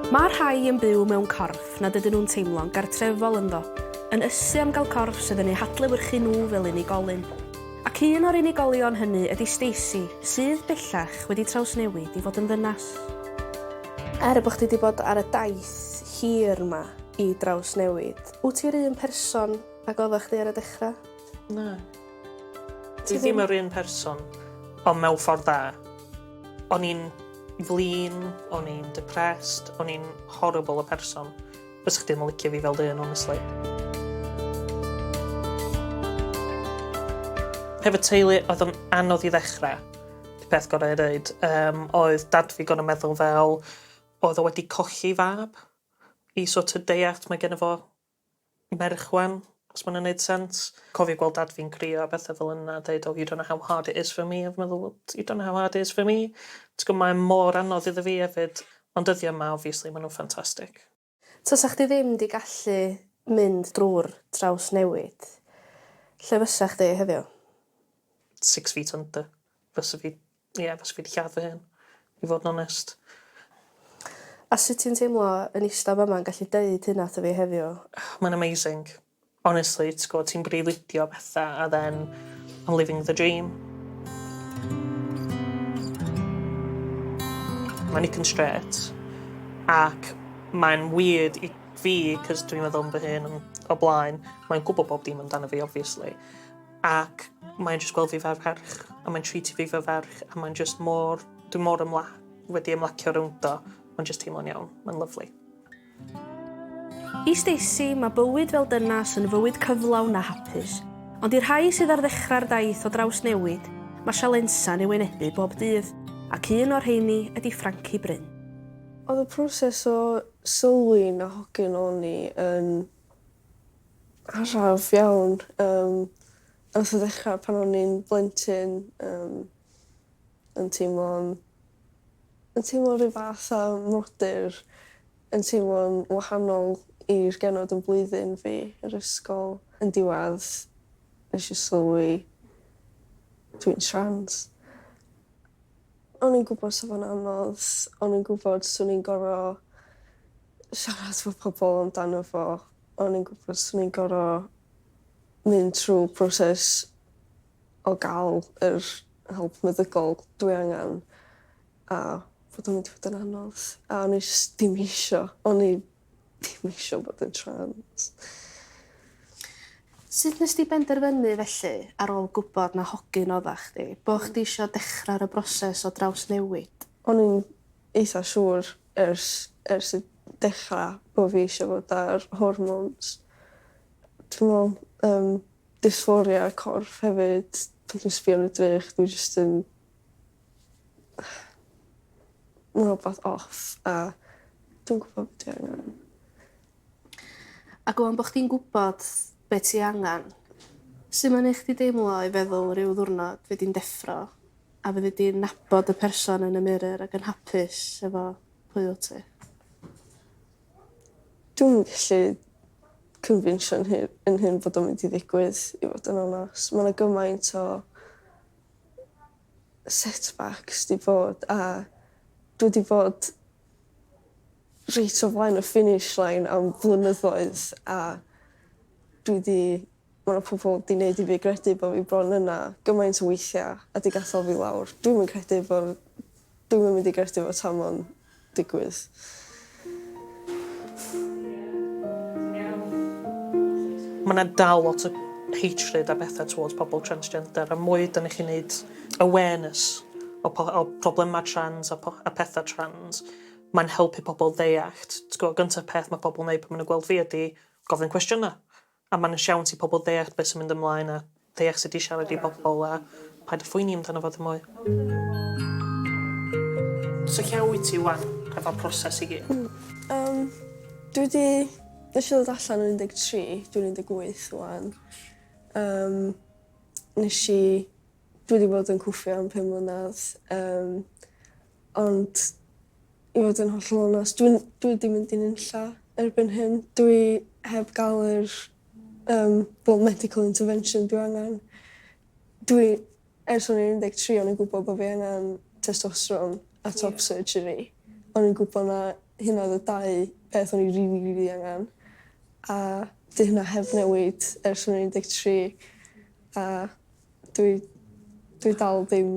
Mae rhai yn byw mewn corff nad ydyn nhw'n teimlo'n gartrefol ynddo, yn ysu am gael corff sydd yn eu hadlewyrchu nhw fel unigolyn. Ac un o'r unigolion hynny ydy Stacey, sydd, bellach, wedi trawsnewid i fod yn ddynas. Er bod chdi wedi bod ar y daith hir 'ma i drawsnewid, wyt ti'r un person Ac oddach chdi ar y dechra? Na. Ti ddim yr un person, ond mewn ffordd dda. O'n i'n flin, o'n i'n depressed, o'n i'n horrible o person. Fys chdi ddim yn licio fi fel dyn, honestly. Hefyd teulu oedd yn anodd i ddechrau. Y peth gorau i ddeud, um, oedd dad fi gorau meddwl fel oedd o wedi colli fab i sort of deall mae gen fo merch wan, os ma wnna'n neud sens. Cofio gweld dad fi'n crio a bethe fel yna a deud oh you don't know how hard it is for me a fi meddwl wel you don't know how hard it is for me. T'gwo mae e mor anodd iddo fi efyd. Ond dyddia yma obviously ma nhw'n ffantastic. Tasa chdi ddim 'di gallu mynd drw'r trawsnewid, lle fysa chdi heddiw? Six feet under. Fysa fi Ie fyswn fi 'di lladd fy hun. I fod yn onest. A sut ti'n teimlo yn ista fama yn gallu deud hynna wrtho fi heddiw? Mae'n amazing. Honestly t'gwod ti'n breuddwydio petha a then I'm living the dream. Mae Nick yn strêt ac mae'n weird i fi 'c'os dwi'n meddwl am fy hun o blaen mae'n gwbo bob dim amdano fi obviously. Ac mae'n jyst gweld fi fel ferch a mae'n treatio fi fel ferch a mae'n jyst mor... Dwi mor ymla- wedi ymlacio rownd o. Mae'n jyst teimlo'n iawn. Mae'n lyfli. I Stacey, mae bywyd fel dynas yn fywyd cyflawn a hapus. Ond i'r rhai sydd ar ddechrau'r daith o drawsnewid, mae sialensau'n ei wynebu bob dydd, ac un o'r rheini ydy Frankie Bryn. Oedd y proses o sylwi'n a hogyn o'n i yn araf iawn yym nath o ddechra pan o'n i'n blentyn yym yn teimlo'n yn teimlo ryw fath o frodyr yn teimlo'n wahanol i'r genod yn blwyddyn fi yr ysgol. Yn diwadd nesh i sylwi dwi'n trans. O'n i'n gwbod sa fo'n anodd o'n i'n gwbod swn i'n gor'o' siarad efo pobol amdano fo o'n i'n gwbod swn i'n gor'o' mynd trw proses o ga'l yr help meddygol dwi angan a bod o'n mynd i fod yn anodd a o'n i jys dim isio o'n i Dim isio bod yn trans. Sut nes di benderfynu felly, ar ôl gwybod na hogyn odda chdi, bo' chdi isio dechra ar y broses o drawsnewid? O'n i'n eitha siŵr ers ers y dechra bo' fi isio fod ar hormones. Dwi me'wl yym dysphoria corff hefyd pan dwi'n sbio yn y drych dwi jyst yn ma' rwbath off a dwi'm gwbo be' dwi angan. A go' on bo' chdi'n gwbod be' ti angan. Su' ma'n neu' chdi deimlo i feddwl ryw ddiwrnod fy' di'n deffro a fyddi di'n nabod y person yn y mirror ag yn hapus efo pwy wt ti? Dwi'm yn gallu cyfinsio 'yn hu- 'yn hun bod o'n mynd i ddigwydd i fod yn onast. Ma' 'na gymaint o setback sy 'di bod a dwi 'di fod reit o flaen y finish line am flynyddoedd a dwi 'di ma' 'na pobol 'di neud i fi gredu bo' fi bron yna gymaint o weithia' a 'di gadal fi lawr. Dwi'm yn credu bo' dwi'm yn mynd i gredu fo tan ma' o'n digwydd. Mae 'na dal lot o hatred a petha towards pobl transgender a mwy 'da ni'n gallu neud awareness o po- o problemau trans a po- a petha trans mae'n helpu pobl ddeallt. T'go' gynta peth ma' pobl neud pan ma' nw gweld fi ydi gofyn cwestiyna'. A mae'n siawns i pobl ddeall beth sy'n mynd ymlaen a ddeall sut i siarad i bobl a paid â phoeni amdano fo ddim mwy. So lle wyt ti ŵan efo'r proses i gyd? Hmm yym dwi 'di nesh i ddod allan yn un deg tri dwi'n un deg wyth ŵan yym nesh i dwi 'di bod yn cwffio am pum mlynadd yym ond I fod yn hollol onest dwi'n dwi 'di mynd i nunlla erbyn hyn. Dwi heb ga'l yr yym wel medical intervention dwi angen. Dwi ers o'n i'n un deg tri o'n i'n gwbo bo' fi angen testosteron a top surgery. O'n i'n gwbo 'na hynna odd y dau peth o'n i rili rili angen a 'di hynna heb newid ers o'n i'n un deg tri a dwi dwi dal ddim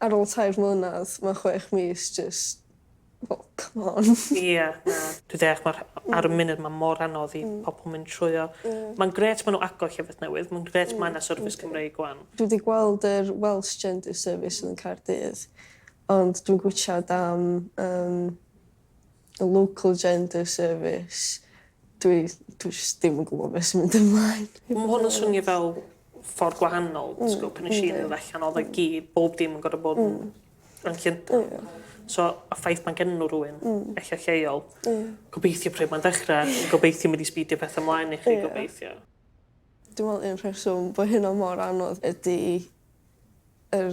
Ar ôl tair mlynadd ma chwech mis jyst fel come on. Ie na. Dwi deall ma'r ar y munud ma mor anodd i pobol mynd trwyo. Ma'n grêt ma nw agor llefydd newydd ma'n grêt ma na service Cymreig wan. Dwi di gweld yr Welsh Gender Service yn Caerdydd ond dwi'n gwitchad am yym Y local gender service. Dwi dwi jyst dim yn gwbo be' sy'n mynd ymlaen. Ma' hwn yn swnio fel ffor gwahanol ti gwbo pan nesh i ddod allan odd e gyd bob dim yn gorod bod yn yn Llundan. Ie. So y ffaith ma'n genno rywun... Hmm. ...ella lleol. Ie. Gobeithio pryd ma'n dechre gobeithio ma' 'di sbîdio petha mlaen i chi... Ie. ...gobeithio. Dwi me'wl un rheswm bo' hynna mor anodd ydi yr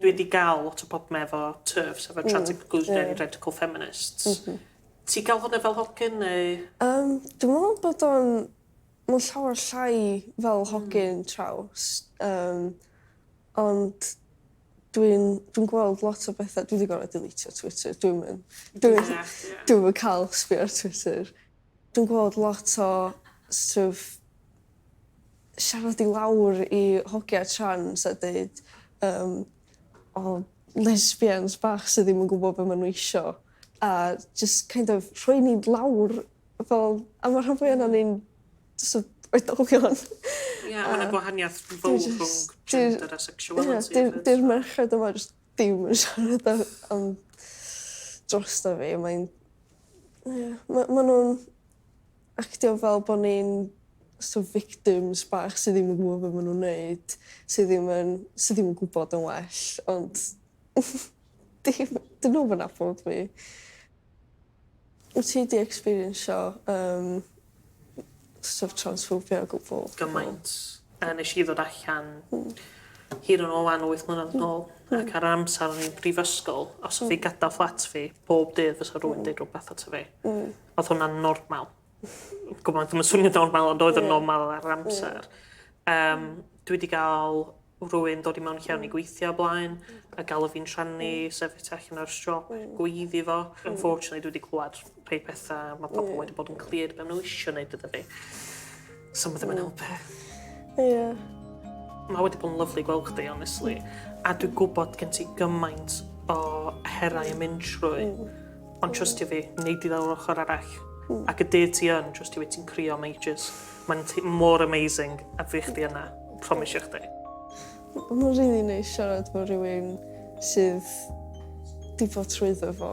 Dwi wedi ga'l lot o probleme efo turfs efo trans-inclusionary radical feminists. M-hm. Ti ga'l hwnna fel hogyn neu? Yym dwi me'wl bod o'n ma'n llawer llai fel hogyn traws yym ond dwi'n dwi'n gweld lot o betha dwi 'di gorod deletio Twitter dwi'm yn dwi methu... Ia ia. ...dwi'm yn ca'l sbio ar Twitter. Dwi'n gweld lot o stwff siarad i lawr i hogia trans a deud yym o lesbians bach sy ddim yn gwbo be' ma' n'w isio a jyst kind of rhoi ni lawr fel a ma' rhan fwya onon ni'n jys o- oedolion. Ie ma' 'na gwahaniath fowr rhwng gender a sexuality hefyd. Ie 'di'r 'di'r merched yma jyst dim yn siarad am am drosto fi mae'n ie ma' ma' nw'n actio fel bod ni'n so't of victims bach sy ddim yn gwybod be maen nhw'n wneud, sy ddim yn, sy ddim yn gwybod yn well, ond dim, dyn nhw'm yn nabod fi. Wyt ti 'di experiencio um, so't of transphobia o gwbl? Gymaint. Uh, nes i ddod allan mm. hir yn ôl lan o 8 mlynedd yn ôl, mm. ac ar yr amser o'n i'n brifysgol, os mm. fi gadael fflat fi, bob dydd fysa rhywun mm. dweud rhywbeth ato fi. Mm Oedd hwnna'n normal? Gwbod, ddim yn swnio normal ond oedd yn normal ar yr amser. Um, dwi wedi gael rwy'n dod i mewn lle o'n i gweithio blaen, a gael o fi'n rhannu, mm. sefyll tu allan ar siop, mm. gweiddi fo. Mm. Unfortunately, dwi wedi clywed rhai pethau, mae pobl wedi bod yn clir beth nhw eisiau gwneud iddo fi. So ma ddim yn helpu. Ie. Mae wedi bod yn lyflu gweld chdi, honestly. A dwi gwybod gen ti gymaint o herau yn mynd trwy. Mm. Ond trust i fi, neud i lawr ochr arall. Mm. Ac y dydd ti yn, trust i fi, ti'n crio am ages. Mae'n mor amazing a fi chdi yna. Promisio chdi. Mae'n rili neis siarad efo rhywun sydd wedi bod trwyddo fo.